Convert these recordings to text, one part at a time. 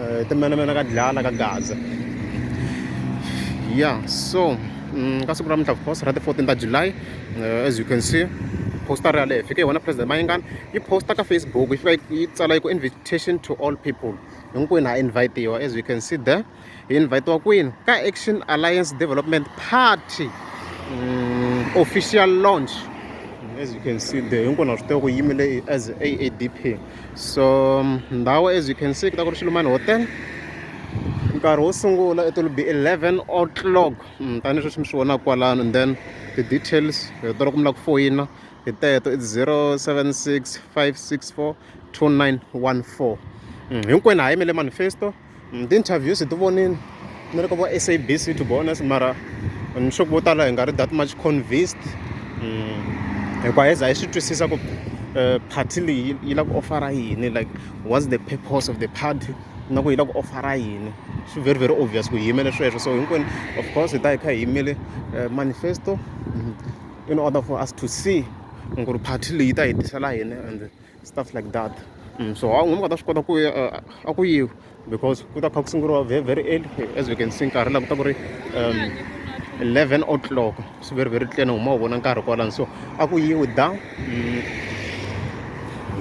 eh, timenemene ka dlala ka gaza ya so mm, ka siku ra mintlha of course ra ti-14 ta july eh, as you can see poster yaleyo fike hi wona president mayingani yi poster ka facebook yi fika yi tsala yi ku invitation to all people hinkwenu ha invitiwa as you can see there hi invitiwa kwini ka action alliance development party um, official launch as you can see there hinkwenu ha swi tiva ku yimile as aadp so ndhawu as you can see ku ta ku ri xilumani hotel nkarhi wo sungula it will be 11 o'clock mm, tanihi sweswi mi swi vonaka kwalano and then ti-details hi tolo ku mi lava ku foyina hi teto it's 076 564 2914 hinkwenu ha yimele manifesto mm, ti-interviews hi ti vonile ni ri ka vo sabc to be honest mara ni sure vo tala hi nga ri that much convinced mm, hikuva hi za hi swi twisisa ku eh, party leyi yi lava ku ofara yini like what's the purpose of the party na ku yi lava ku ofara yini swi very very obvious ku hi yimele sweswo so hinkwenu of course hi ta hi kha hi yimele eh, manifesto mm, in order for us to see ku ri party leyi ta hi tisela yini and stuff like that mm, so a nga ta swi kota ku ya a ku yiwi because ku ta kha ku sunguriwa very very early as we can see nkarhi laha ku ta ku ri um 11 o'clock swi very very tlene huma wu vona nkarhi kwalani so a ku yiwi da mm,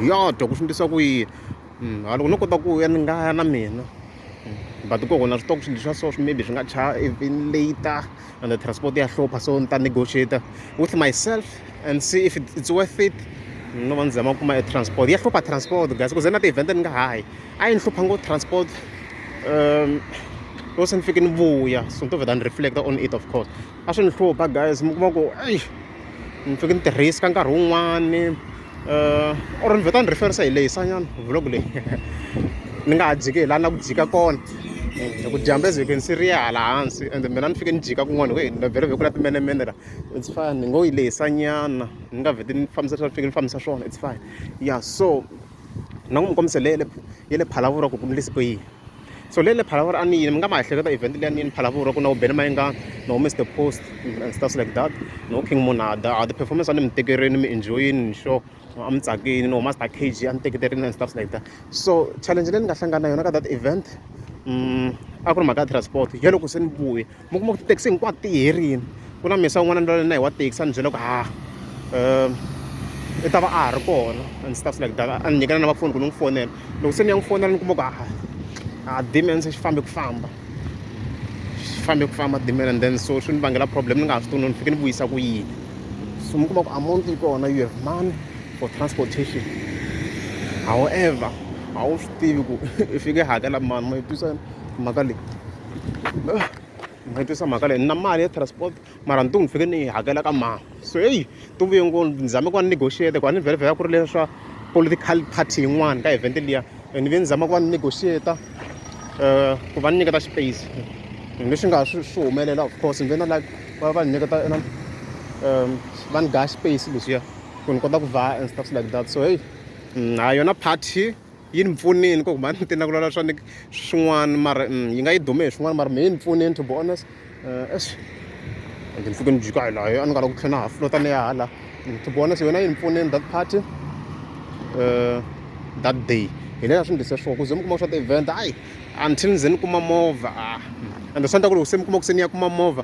ya dwa ku swi ndlisa ku yini mm, haloko no kota ku ya ni nga ya na mina but ku hona switoko swilo swa so swi maybe swi nga cha even later and the transport ya hlupha so ni ta negotiator with myself and see if it's worth it no va ni zama ku kuma e transport ya hlupha transport guys ku ze na ti-event ni nga hayi a yi ni hlupha ngo transport um loko se ni fike ni vuya so ni to vheta ni reflector on it of course a swi ni hlupha guys mi kuma ku eyi ni fike ni tirhisa ka nkarhi wun'wani um or ni vheta ni referisa hi lehisa nyana vlog leyi ni nga ha dziki hi laha na ku dzika kona um ku dyambe ze ni siriya hala hansi and mina ni fike ni jika kun'wana hi ku vhele vhekula timenemene la it's fine ni ngo yi lehisa nyana ni nga vheti ni fambisa leswi a ni fike ni fambisa swona it's fine ya so ni nga n'wi minkombiso leyi ya le ya le Phalaborwa ku ku endlise ku yini so leyi le Phalaborwa a ni yini mi nga ma ehleketa event leyi a ni yini Phalaborwa ku na wu Benny Mayengani na wu Mister Post and stuff like that na wu King Monada a ti-performance a ni mi tekerini mi enjoy-ini ni sure a mi tsakini no Master KG a ni teketerini and stuff like that so challenge leyi ni nga hlangana na yona ka that event a ku ri mhaka ya transport ya loko se ni vuya mi kuma ku tithekisi hinkwato ti herile ku na mesa un'wana ndlela na hi wa thekisi a ni byela ku ha um i ta va a ha ri kona a ndzi ta swi like dala a ni nyikela na va foni ku ni n'wi fonela loko se ni ya n'wi fonela ni kuma ku ha a dimene se xi fambe ku famba xi fambe ku famba dimene and then so swi ni vangela problem ni nga ha swi tuni ni fike ni vuyisa ku yini so mi kuma ku amount yi kona you have money for transportation however a wu swi tivi ku i fike hakela mani ma yi twisana mhaka leyi mi nga twisisa mhaka leyi ni na mali ya transport mara ntungu ni fike ni yi hakela ka mama so heyi ti vuye ngopfu ni zame ku va ni negotiate ku a ni vhele ku ri leswa political party yin'wana ka event liya and ni ve ni zama ku va ni negotiate um eh, ku va ni nyiketa space leswi nga swi swi humelela of course ni ve na like va va ni nyiketa na um va ni daya space leswiya ku ni kota ku vhaya and stuff like that so heyi mm, ha yona party yi ni pfunile ku mhani ti nakulala swa ni swin'wana mara mm, yi nga yi dume hi swin'wana mara mehe ni pfunile to be honest eh, es ende ni fike ni jika hi layo a ni nga la ku tlhela na ha flota ni ya hala mm, to be honest yona yi ni pfunile that party eh, that day hi lela swi ndlise swona ku ze mi kuma swa ti-event ayi until ni ze ni kuma movha a ah, mm. ende swi endla ku loko se mi kuma ku se ni ya kuma movha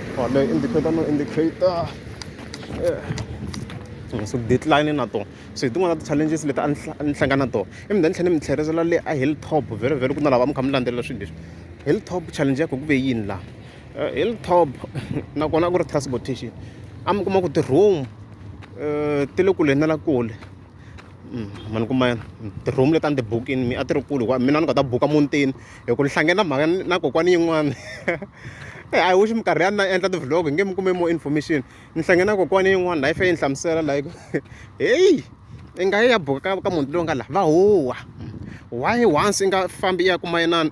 or leyi indicator no indicator eh, so deadline na tona so hi tin'wana ta challenges leti a ni hlangana na tona i mi then tlhela ni mi tlherisela le a hilltop very very ku na lava mi kha mi landzelela swilo leswi hilltop challenge ya ku ku ve yini laha eh, hilltop nakona a ku ri transportation a mi kuma ku ti-room um ti le kule na la kule mm, mani kuma yena ti-room leti a ni ti bukini mi a ti ri kule hikuva mina ni nga ta buka muntini hi ku ni hlange na mhaka na kokwani yin'wana eh, i wish minkarhi ya na endla ti-vlog hi nge mi kume more information ni hlange na kokwani yin'wana layi fe yi ni hlamusela layi heyi i nga yi ya buka ka ka munhu loyi nga laha va huwa why once i nga fambi ya kuma inani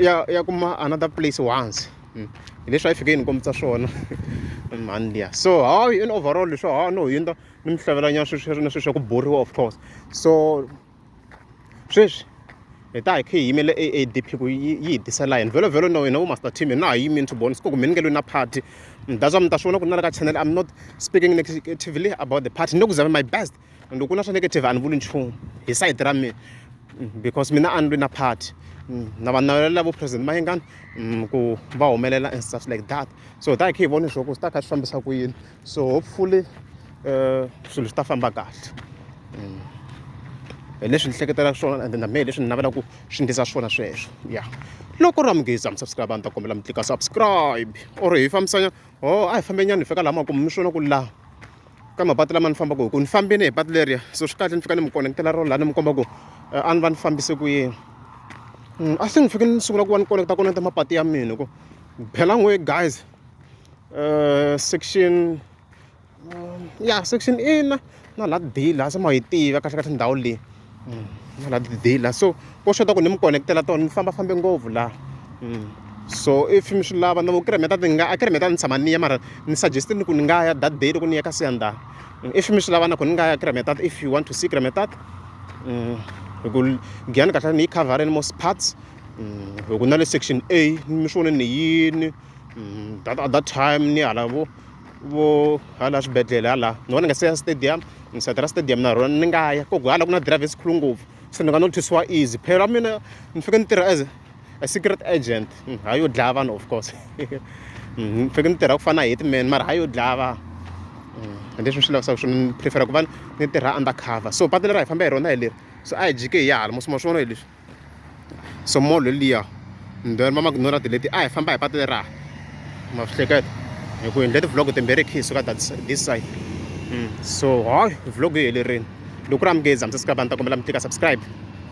ya ya kuma another place once hmm. hi leswi a yi fike yi ni kombisa swona mhani liya so hayi in overall leswi ha no hundza ni mi hlavelanyana sweswi na sweswi ya ku boriwa of course so sweswi hi ta hi khe hi yimele aadp ku yi yi hi tisela yini vhelo vhelo no hina vo master team hi na ha yimi ni tiboni siku ku mi ni nge lwi na party mi dazwa mi ta swi vona ku ni na le ka channel i'm not speaking negatively about the party ni le ku zame my best and loko ku na swa negative a ni vuli nchumu hi sayiti ra mina because mina a ni lwi na party na va navelela vo president mayengani ku va humelela and stuff like that so hi ta hi khe hi vona leswaku swi ta kha swi fambisa ku yini so hopefully uh, swilo swi ta famba kahle mm. hi leswi ni hleketelaka swona and na mehe leswi ni navelaka ku swi ndlisa swona sweswo ya loko ri amugeza mi subscribe a ni ta kombela mi tlika subscribe or hi fambisanya o oh, a hi fambe nyana hi fika laha ma kume mi swona ku laha ka mapatu lama ni fambaka hi ku ni fambini hi patu leriya so swi kahle ni fika ni mi konekitela rona laha ni mi komba ku eh, a ni va ni fambise ku yini mm, a se ni fike ni sungula ku va ni konekita konekita mapatu ya mina ku bela n'we guys uh, section um, ya section a na na laha d laha se ma yi tiva kahle kahle ndhawu leyi mm, na laha d laha so ko xota ku ni mi connectela tona ni famba fambe ngopfu laha mm. so if mi swi lava na vo kiremeta ti nga a kiremeta ni tshama ni ya mara ni suggestile ku ni nga ya that day loko ni ya ka siyandana mm, if mi swi lava na ku ni nga ya kiremetat if you want to see kiremetat hi ku giyani kahle ni yi covereni most parts hi ku na le section a mi swi vone ni yini mm, that at that time ni hala vo vo hala swibedhlele hala ni vona nga se ya stadium ni sati ra stadium na rona ni nga ya koku hala ku na drive esikhulu ngopfu se ni nga no thwisiwa easy phelo ra mina ni fike ni tirha as a secret agent mm, hayi yo dlaya vanhu of course mm, ni fike ni tirha ku fana na hitman mara hayi yo dlaya vanhu mm, leswi ni swi lavisaka swona ni prefera ku va ni tirha undercover so patu leri a hi famba hi rona hi leri so a hi jike hi ya hala mosima swi vona hi leswi so mall liya mbheri mama ku nora tileti a hi famba hi patu leraha ma swi hleketa hi ku endle ti-vlog timbirhi khe hi suka this side hmm. so hayi vlog yi helerini loko ku ri amukezi hamsasika vanhu ta kombela mi tlika subscribe